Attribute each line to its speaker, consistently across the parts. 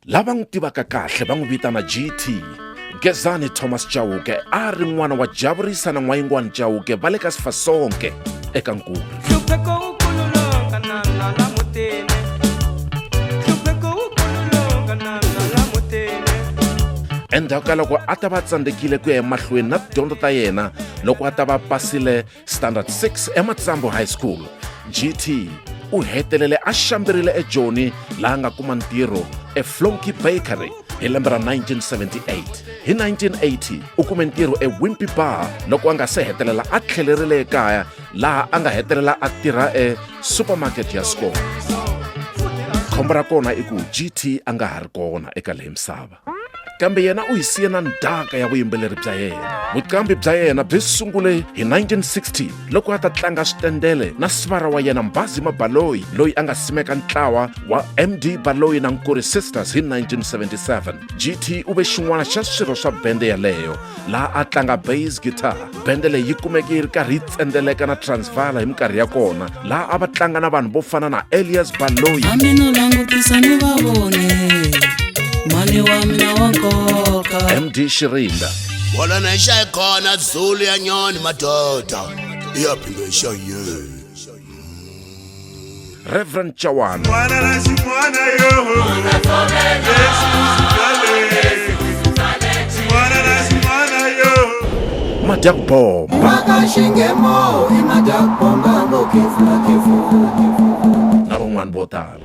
Speaker 1: Lava n'wi tivaka kahle va n'wi vitana GT. Gezani Thomas Chauke a ri n'wana wa Javurisa na N'wayingwani Chauke va le ka Sifasonke eka Nkulu. Endzhaku ka loko a ta va tsandzekile ku ya emahlweni na tidyondzo ta yena loko a ta va pasile standard 6 ematsambo high school gt u hetelele a xambirile ejoni laha nga kuma ntirho eflonky bakery hi lembe ra 1978 hi 1980 u kume ntirho ewimpy bar loko a nga se hetelela a tlhelerile ekaya laha a nga hetelela a tirha esupermarket ya skol khombo ra kona i ku gt a nga ha ri kona eka leyi misava kambe yena u hi siye na ndhaka ya vuyimbeleri bya yena vuqambi bya yena byi sungule hi 1960 loko a ta tlanga switendele na sivara wa yena mbazi mabaloyi loyi a nga simeka ntlawa wa md baloyi na nkuri sisters hi 1977 gt u ve xin'wana xa swirho swa bende yaleyo laha a tlanga bass guitar bende leyi yi kumeke yi ri karhi yi tsendeleka na transvala hi minkarhi ya kona laha a va tlanga na vanhu vo fana na elias baloyi mani wa
Speaker 2: mina wa nkoka md xirinda
Speaker 1: wala na yi xayi
Speaker 3: kona zulu ya nyoni madoda iyaphinda yi xayini
Speaker 1: Reverend Chawana. Mwana na ximwana yo. Mwana na ximwana yo. Madak Bomb. Maka xingemo i Madak Bomb ngo khefula khefula. Na van'wana vo tala.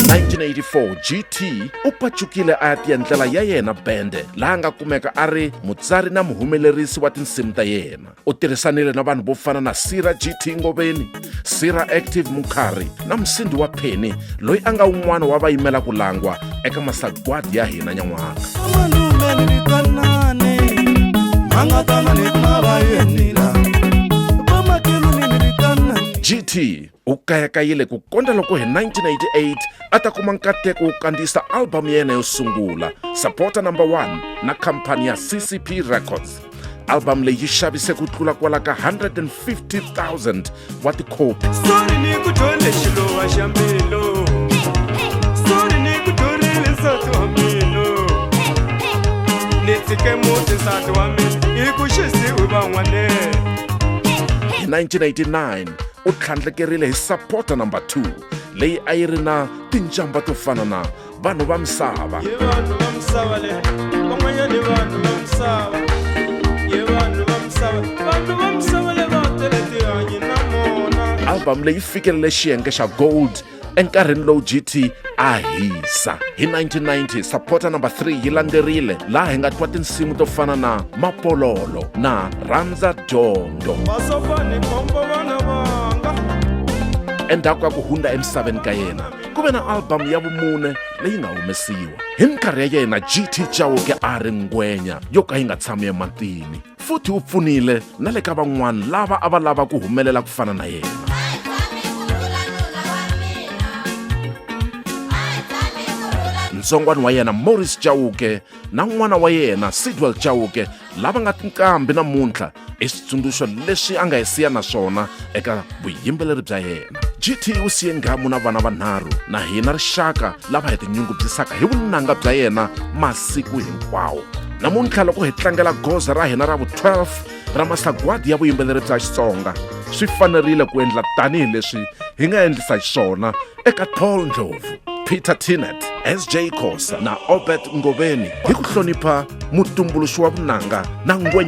Speaker 1: 1984 GT u pachukile a ya tiendlela ya yena bende laha nga kumeka a ri mutsari na muhumelerisi wa tinsimu ta yena. u tirhisanile na vanhu vo fana na sira gt ngoveni sira active mukhari na musindi wa pheni loyi a nga un'wana wa va yimela ku langwa eka masagwadi ya hina nyan'waka gt u kayakayile ku kondza loko hi 1988 a ta kuma nkateko wo kandziyisa albhamu ya yena yo sungula supporter number 1 na khampani ya ccp records albhamu leyi yi xavise ku tlula kwala ka 150000 wa tikhopi ni tshike muti nsati wa mina hi ku xisiwi van'wanene 1989 u tlhandlekerile hi sapota number 2 leyi a yi ri na tinjamba to fana na vanhu va misava albamu leyi fikelele xiyenge xa gold enkarhini lowu gt a hisa hi 1990 sapota number 3 yi landzerile laha hi nga twa tinsimu to fana na mapololo na rhandza dyondzo endzhaku ka ku hundza emisaveni ka yena ku ve na albhamu ya vumune leyi nga humesiwa hi minkarhi ya yena gt chauke a ri ngwenya yo ka yi nga tshami ematini futhi u pfunile na le ka van'wana lava a va lava ku humelela ku fana na yena ntsongwana wa yena morris chauke na n'wana wa yena sidwell chauke lava nga tinqambi namuntlha i switsundzuxo leswi a nga hi siya na swona eka vuyimbeleri bya yena gt u siye nghamu na vana vanharhu na hina rixaka lava hi tinyungubyisaka hi vunanga bya yena masiku hinkwawo namuntlha loko hi tlangela goza ra hina ra vu-12 ra masagwadi ya vuyimbeleri bya xitsonga swi fanerile ku endla tanihi leswi hi nga endlisa xiswona eka tall ndlovu peter tinet sj kosa na obert ngoveni hi ku hlonipha mutumbuluxi wa vunanga na ngwenya